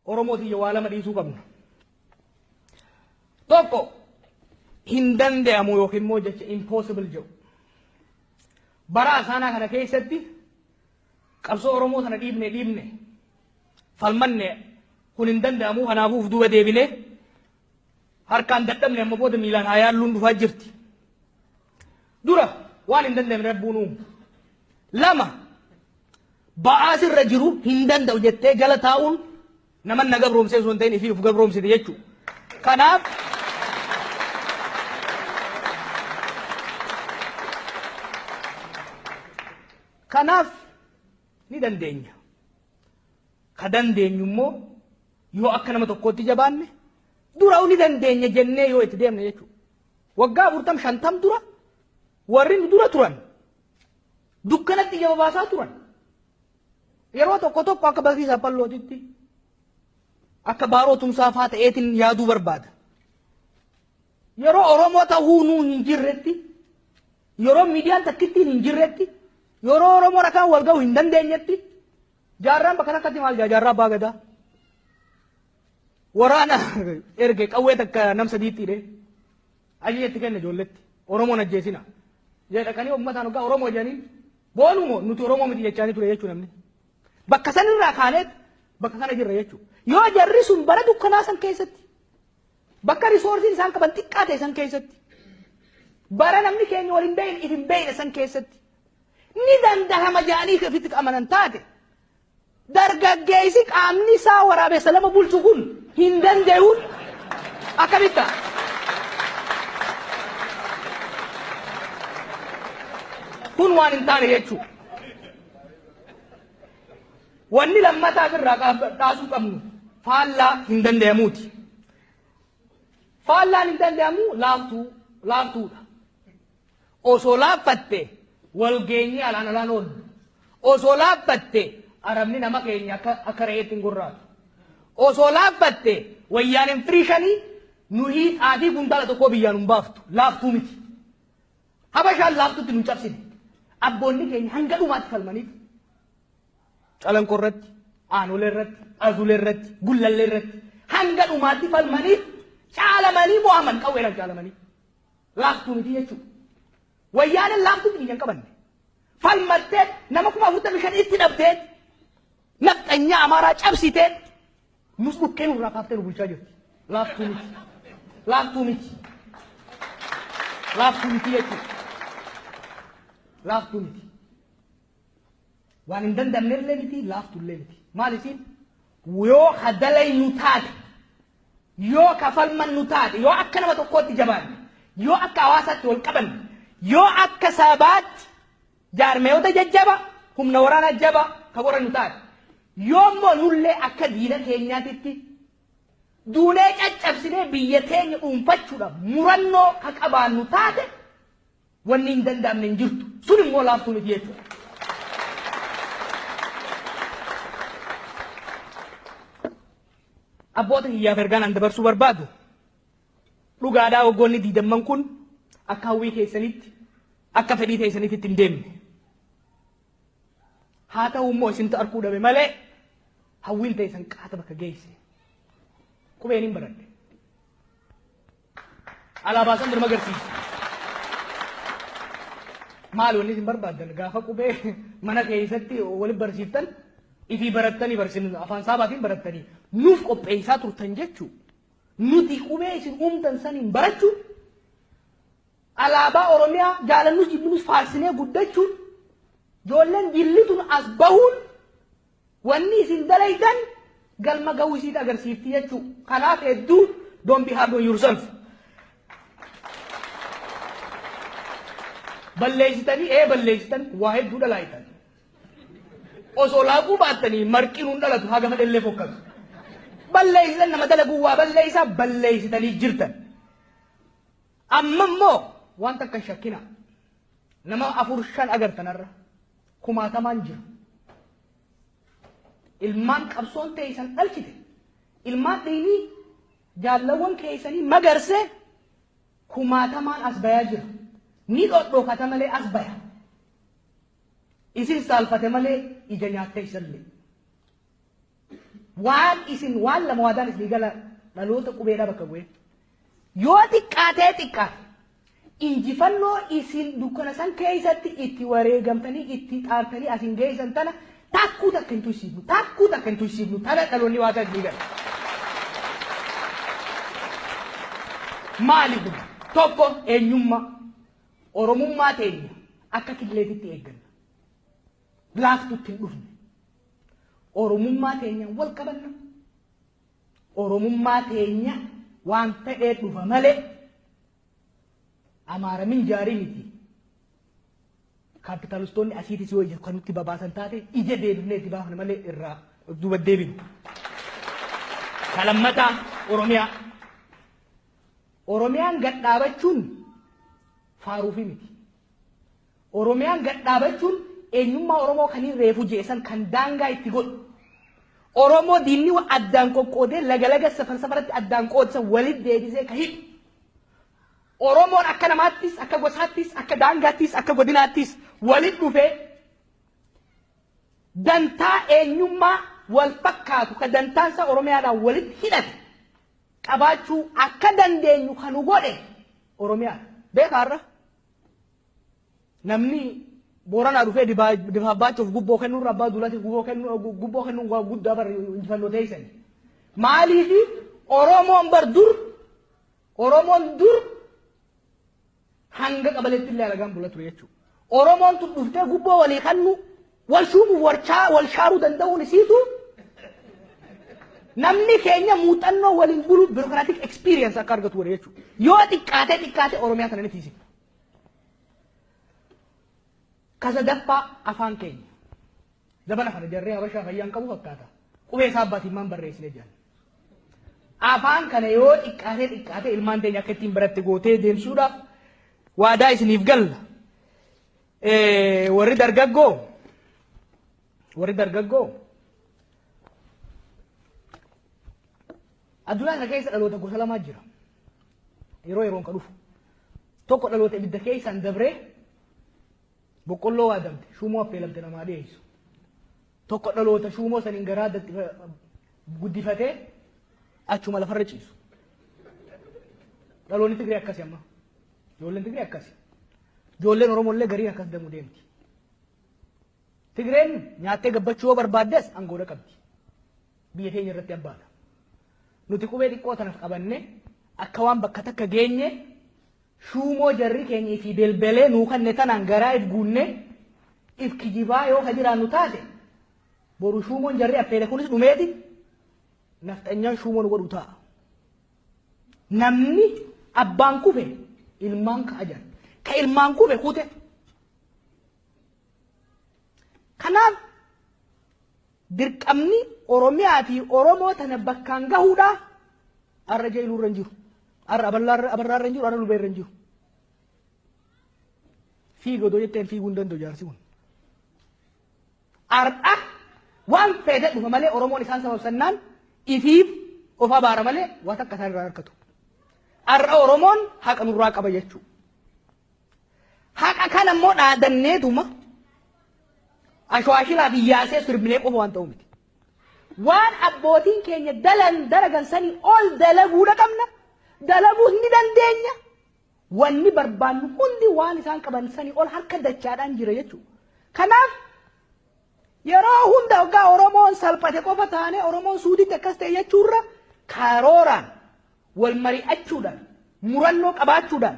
Oromoo tiyya waa lama dhiisuu qabna. Tokko hin danda'amu yookiin immoo jecha impossible jedhu. Bara asaanaa kana keessatti qabsoo Oromoo sana dhiibne dhiibne falmanne kun hin danda'amu kanaafuu duuba deebine harkaan dadhabne amma booda miilaan haa yaalluun dhufaa jirti. Dura waan hin danda'amne rabbuun uumu. Lama Ba'aa sirra jiru hin danda'u jettee jala taa'uun naman na gabroomsee osoo hin ta'in ifii of gabroomsite jechuudha. Kanaaf Kanaaf ni dandeenya. Ka dandeenyu immoo yoo akka nama tokkootti jabaanne dura ni dandeenya jennee yoo itti deemne jechuudha. Waggaa afurtam shantam dura warri nu dura turan Dukkanatti ija babaasaa turan. Yeroo tokko tokko akka barsiisa pallootitti akka baaroo tumsaa faa ta'eetiin yaaduu barbaada. Yeroo Oromoo ta'uu nuu hin jirretti yeroo miidiyaan takkittiin hin jirretti yeroo Oromoo rakaan wal ga'u hin dandeenyetti jaarraan bakka takkatti maal jaa jaarraa abbaa gadaa. Waraana erge qawwee takka nam sadiitti hidhee. Ajaja itti kenne ijoolletti. Oromoo hin ajjeesinaa. Jee dhaqanii ummataan hoggaa Oromoo jedhaniin boonuu moo nuti Oromoo miti jechaanii ture jechuu namni. Bakka sanirraa kaaneet bakka kana jirra jechuu. Yoo jarri sun bara dukkanaa san keessatti bakka risoorsiin isaan qaban xiqqaa ta'e san keessatti bara namni keenya waliin beekne isin beekne san keessatti ni dandahama jedhanii ofitti amanan taate Dargaggeessi qaamni isaa waraabessa lama bulchu kun hin danda'uun akkamitti ta'a? Kun waan hin taane jechuudha. Wanni lammataaf irraa dhaasuu qabnu faallaa hin danda'amuuti. Faallaan hin danda'amu laaftuu laaftuudha. Osoo laaffatte wal geenyee alaan alaan oollu. Osoo laaffatte arabni nama keenya akka akka re'eetti hin gorraatu. Osoo laaffatte wayyaaneen firii shanii nuhii xaafii kuntaala tokkoo biyyaan hin baaftu. Laaftuu miti. Habashaan laaftutti nu cabsine. Abboonni keenya hanga dhumaatti falmaniif. Calanqoo irratti, aanolee irratti, azulee irratti, gullallee irratti hanga dhumaatti falmaniif caalamanii mo'aman qawweedhaan caalamanii. laaftuu miti jechuudha. Wayyaaneen laaftuutti biyya hin qabanne. Falmattee nama kuma afurtamii shan itti dhabdee nafxanyaa amaaraa cabsitee nus dhukkee nurraa kaaftee nu bulchaa jirti. Laaftuu miti. Laaftuu miti. Laaftuu miti jechuudha. Laaftuu miti. Waan hin danda'amne illee miti laaftu illee miti. Maal isiin? Yoo ka dalaynu taate, yoo ka falmannu taate, yoo akka nama tokkootti jabaanne, yoo akka hawaasaatti wal qabanne, yoo akka sabaatti jaarmayoota jajjaba, humna waraanaa jaba ka godhannu taate, yoo immoo nullee akka diina keenyaatitti duunee caccabsinee biyya teenya dhuunfachuudhaaf murannoo ka qabaannu taate Wanni hin danda'amne hin jirtu. Sun immoo laaftuu miti jechuudha. Abboota kiyyaaf ergaan an dabarsuu barbaadu dhugaadhaa waggoonni diidamman kun akka hawwii keessanitti akka fedhii keessanitti itti hin deemne. Haa ta'u immoo isintu arguu dhabe malee hawwiin teessan qaata bakka geesse. Qubeen hin baradhe. Alaabaa san dirma agarsiisa. Maal wanni isin barbaaddan gaafa qubee mana keessatti waliin barsiiftan ifii barattanii barsiin afaan saabaatiin barattanii nuuf qopheessaa turtan jechuu nuti qubee isin uumtan saniin barachuu alaabaa Oromiyaa jaalannus jibbinus faarsinee guddachuun ijoolleen jillituun as bahuun Wanni isin dalaydan galma gahuu isiit agarsiifti jechuu. Kanaaf hedduu don't be hard on yourself. Balleessitanii ee balleessitan waa hedduu dalaaytan. Osoo laaquu baattanii marqiin hin dhalatu haga fedhellee fokkatu. Balleessitan nama dalaguu waa balleessaa balleessitanii jirtan. Amma immoo waan takka hin shakkina. Nama afur shan agartanarra. kumaatamaan jira. Ilmaan qabsoon teeysan dhalchite. Ilmaan dhiinii jaallawwan keeysanii magarsee kumaatamaan as bayaa jira. Ni dhodhookata malee as baya. Isin saalfate malee ija nyaattee isallee. Waan isin waan lama waadaan isinii gala dhaloota qubeedhaa bakka bu'ee. Yoo xiqqaatee xiqqaate injifannoo isin dukkana san keessatti itti wareegamtanii itti xaartanii asin geessan tana takkuu takka hin tuysiifnu takkuu takka hin tuysiifnu tana dhaloonni waadaa isinii gala. Maali kun tokko eenyummaa oromummaa teenya akka killeetitti eegganna. laaftutti hin dhufne. Oromummaa teenyaan wal qabanna. Oromummaa teenya waan ta'ee dhufa malee amaara minjaarii miti. Kaapitaalistoonni asiitis yoo ija kan nutti babaasan taate ija deebifnee itti baafna malee irraa of duuba deebinu. Kalammataa Oromiyaa. Oromiyaan gad dhaabachuun faaruufi miti. Oromiyaan gad dhaabachuun eenyummaa Oromoo kan hin reefu je'e san kan daangaa itti godhu. Oromoo diinni wa addaan qoqqoodee laga laga safar safaratti addaan qoodsan walit deebisee ka hidhu. Oromoon akka namaattis, akka gosaattis, akka daangaattis, akka godinaattis walit dhufee dantaa eenyummaa wal fakkaatu ka dantaan isaa Oromiyaadhaan walit hidhate qabaachuu akka dandeenyu kan nu godhe Oromiyaadha. Beekaa irra? Namni Booranaa dhufee Difaa Abbaachuuf gubboo kennuu irra Abbaa Duulaatiif gubboo kennuu waan guddaa bar injifannoo teessan. Maaliif Oromoon bar dur Oromoon dur hanga qabaleetti illee alagaan bula ture jechuudha. Oromoon tun dhuftee gubboo walii kennuu wal shuumuuf wal shaaruu danda'uun isiitu namni keenya muuxannoo waliin bulu birokraatik experience akka argatu godhe jechuudha. Yoo xiqqaatee xiqqaatee Oromiyaa sana ni tiisifna. Ka sadaffaa afaan keenya. Zabana kana jarree habashaa fayyaan qabu fakkaata. Qubee isaa abbaatiin maan barreessine jedhan. Afaan kana yoo xiqqaatee xiqqaatee ilmaan teenya akka ittiin baratti gootee deemsuudhaaf waadaa isiniif galla. Eh, Warri dargaggoo warri dargaggoo addunyaa kana keessa dhaloota gosa lamaa jira. yeroo yeroon ka dhufu tokko dhaloota ibidda keessaan dabree boqqolloo waadamte shuumoo affeelamte namaa dhiyeessu tokko dhaloota shuumoo saniin garaa addatti guddifatee achuma lafarra ciisu dhaloonni Tigree akkasi amma ijoolleen Tigree akkasi ijoolleen Oromoo illee gariin akkas demuu deemti Tigreen nyaattee gabbachuu yoo barbaaddes angoodha qabdi biyya keenya irratti abbaadha. Nuti qubee xiqqoo tanaf qabanne akka waan bakka takka geenye shuumoo jarri keenya ifi belbelee nuu kanne tanaan garaa if guunne if kijibaa yoo ka jiraannu taate boru shuumoon jarri affeele kunis dhumeeti nafxanyaan shuumoon godhu ta'a. Namni abbaan kufe ilmaan ka'a jira. Ka ilmaan kufe kute Kanaaf dirqamni Oromiyaa fi Oromoo tana bakkaan gahuudha. Arra jeeluu irra hin jiru. Arra abarraa irra hin jiru. Arra lubee irra hin jiru. Fiiga odoo jetteen fiiguu hin danda'u jaarsi kun. Arra waan fedhe dhufa malee Oromoon isaan sababsannaan ifiif of abaara malee waan takka isaan irraa harkatu. Arra Oromoon haqa nurraa qaba jechuudha. Haqa kana immoo dhaadanneetuma ashwaashiraa fi yaasee sirbinee qofa waan ta'u miti. Waan abbootiin keenya dalan dalagan sanii ol dalaguudha qabna. Dalaguus ni dandeenya. Wanni barbaannu hundi waan isaan qaban sanii ol harka dachaadhaan jira jechuudha. Kanaaf yeroo hunda hoggaa Oromoon salphate qofa taane Oromoon suuditti akkas ta'e jechuurra karooraan wal mari'achuudhaan murannoo qabaachuudhaan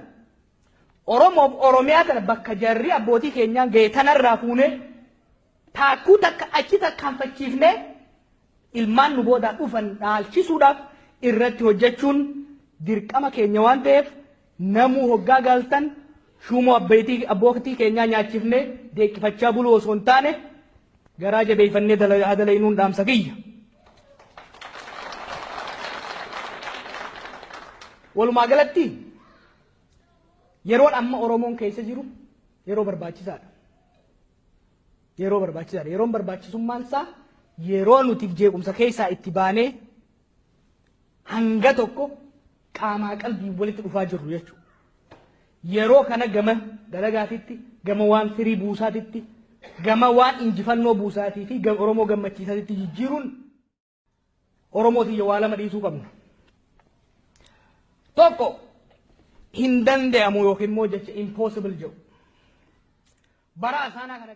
Oromoof Oromiyaa tana bakka jarri abbootii keenyaan ga'e tanarraa fuunee taakkuu takka achi tarkaanfachiifnee ilmaan nu boodaa dhufan dhaalchisuudhaaf irratti hojjechuun dirqama keenya waan ta'eef namuu hoggaa galtan shuumoo abbeetii abbootii keenyaa nyaachifnee deeqqifachaa buluu osoo hin taane garaa jabeeffannee dalayinuun dhaamsa kiyya. Walumaa galatti Yeroon amma Oromoon keessa jiru yeroo barbaachisaadha. Yeroo barbaachisaadha. Yeroon barbaachisummaan isaa yeroo nuti jeequmsa keessaa itti baanee hanga tokko qaamaa qalbii walitti dhufaa jirru jechuudha. Yeroo kana gama dalagaatitti, gama waan firii buusaatitti, gama waan injifannoo buusaatii fi Oromoo gammachiisaatitti jijjiiruun Oromoo tiyya waa lama dhiisuu qabna. Tokko hin danda'amu yookiin immoo jecha impossible jedhu. Bara asaanaa kana